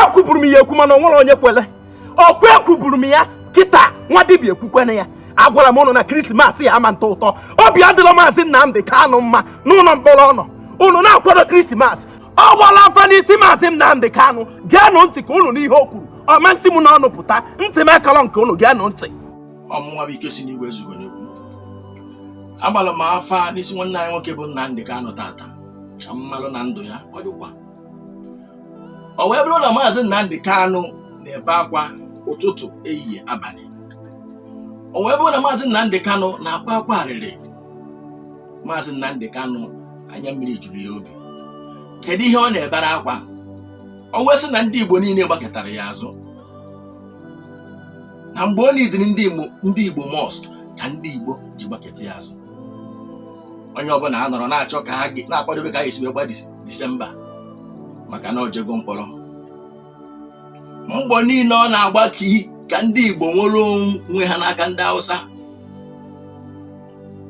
ekwuburu m ya ekwu mana o nwerọ onye kwele ọkwa ekwuburu m ya kịta nwa dibịa ekwukwena ya agwara m ụnụ na krismas ya ama ntọ ụtọ obi adịrọ maazị Nnamdị Kanụ mma n'ụlọ mkpọrọ ọ nọ ụnụ na-akwado krismas ọ gbaala afa n'isi maazị Nnamdị Kanụ geenụ ntị ka ụnụ nụ ihe o kwuru ọ ma nsi m n'ọnụ pụta ntị m akarọ nke ụnụ geenụ ntị ọ mụnwa bụ ike si n'igwe zugo n'egwu agbara m afa n'isi nwanne anyị nwoke bụ Nnamdị Kanụ taata ka m malụ na ndụ ya ọ dịkwa o wee bụrụ na maazị Nnamdi Kanu na-ebe akwa ụtụtụ ehihie abalị o wee bụrụ na maazị Nnamdi Kanu na-akwa akwa arịrị maazị Nnamdi Kanu anya mmiri juru ya obi kedu ihe ọ na-ebere akwa o wee sị na ndị Igbo niile gbakọtara ya azụ na mgbe o neediri ndị Igbo most ka ndị Igbo ji gbakọta ya azụ onye ọbụla anọrọ na-achọ ka ha ga- na-akwadobe ka anyị si wee gba disi disemba maka na o jego mkpọrọ mbọ niile ọ na-agba ka ndị igbo nwere onwe ha n'aka ndị hausa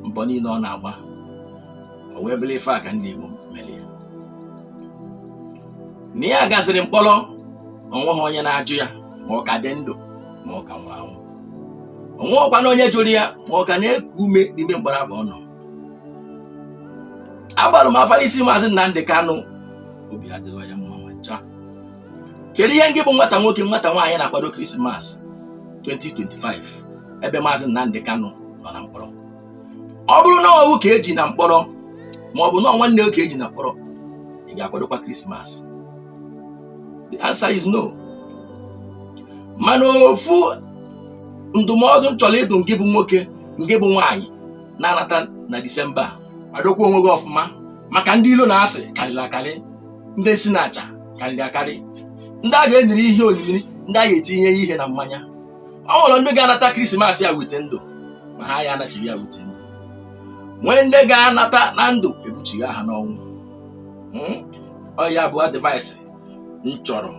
mbọ niile ọ na-agba o wee bụrụ ife a ka ndị igbo mere ya na ya gazịrị mkpọrọ o nweghị onye na-ajụ ya ma ọ ka dị ndụ ma ọ ka nwụrụ anwụ o nweghịkwanụ onye jụrụ ya ma ọ ka na-eku ume n'ime mkpọrọ afụ ọ nọ agbara m afa n'isi maazị Nnamdị Kanụ obi adịrọ ya mma ma ncha kedu ihe ngị bụ nwata nwoke nwata nwaanyị na-akwado krismas 2025 ebe maazị Nnamdị Kanụ nọ na mkpọrọ ọ bụrụ na ọ wụ ka e ji na mkpọrọ ma ọ bụ na nwanne gị ka e ji na mkpọrọ ị ga-akwadokwa krismas the answer is no mana ofu ndụmọdụ m chọrọ ịdụ ngị bụ nwoke ngị bụ nwaanyị na-anata na disemba a. kwadokwa onwe gị ọfụma maka ndị ilo na asị karịrị akarị ndị nsi na aja karịrị akarị ndị a ga-enyere ihe onyinye ndị a ga-etinye ihe na mmanya o nwere ndị ga-anata krismas a with ndụ ma ha ya-anachigha with ndụ nwee ndị ga-anata na ndụ e buchigha ha n'ọnwụ Mm? ọ ya bụ advice m chọrọ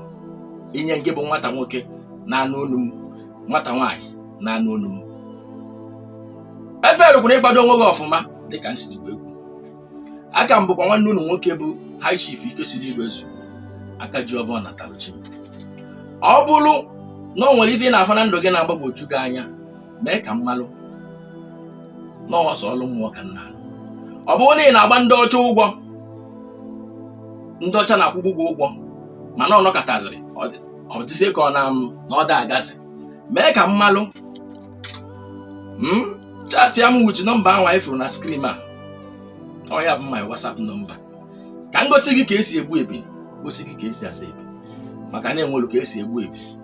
inye ngị bụ nwata nwoke na-anụ olu m nwata nwaanyị na-anụ olu m efailukwana ịkwado onwe gị ọfụma dịka m siri wee kwuo a ka m bụkwa nwanne unu nwoke bụ high chief ikesiri igwe zu aka ji ọfọ nataru chi m ọ bụrụ na o nwere ife ị na-afụ na ndụ gị na-agbagwoju gị anya mee ka m malụ na ọ sọ ọlụ mmụọ ka m na-alụ ọ bụrụ na ị na-agba ndị ọcha ụgwọ ndị ọcha na-akwụbu gị ụgwọ mana ọ nọkataziri ọ dịzie ka ọ na na ọ da agazi mee ka m malụ chatia m with nọmba ahụ anyị fụrụ na screen a ọ ya bụ my whatsapp nọmba ka m gosi gị ka esi egbu ebi gosi gị ka esi asa ebi maka na enwelu ka esi egbu ebi